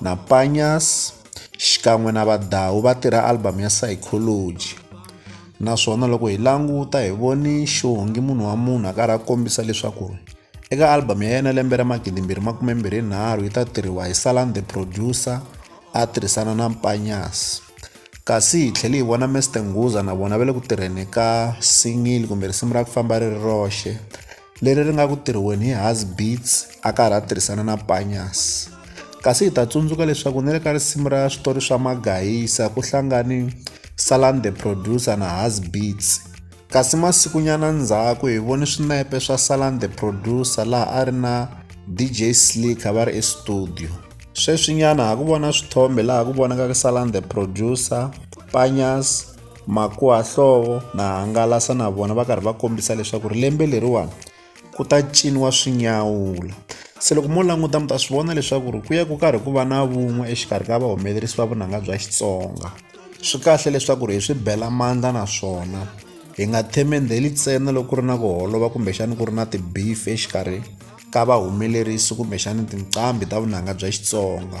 na Panyas xikan'we na Vadawu va tirha album ya Psychology naswona loko hi languta hi voni xihongi munhu wa munhu a karhi a kombisa leswaku eka album ya yena lembe ra magidimbirhi makume mbirhi nharhu yi ta tirhiwa hi Salan the producer a tirhisana na Panyas kasi hi tlhele hi vona Mr Nguza na vona va le ku tirheni ka singili kumbe risimu ra ku famba ri ri roxe leri ri nga ku tirhiweni hi Hasbeats a karhi a tirhisana na Panyas. Kasi hi ta tsundzuka leswaku ni le ka risimu ra switori swa Magayisa ku hlangani Salan the Producer na Hasbeats. Kasi masikunyana ndzhaku hi voni swinepe swa Salan the Producer laha a ri na DJ Slicker va ri estudio. Sweswinyana ha ku vona swithombe laha ku vonakaka Salan the Producer, Panyas, Makuhahlovo na hangalasa na vona va karhi va kombisa leswaku ri lembe leriwani ku ta ciniwa swinyawula se loko mo languta mi ta swi vona leswaku ri ku ya ku karhi ku va na vun'we exikarhi ka vahumelerisi va vunanga bya xitsonga swi kahle leswaku ri hi swi bela mandla naswona hi nga themendheli ntsena loko ku ri na ku holova kumbexani ku ri na ti-beef exikarhi ka vahumelerisi kumbexani tinqambi ta vunanga bya xitsonga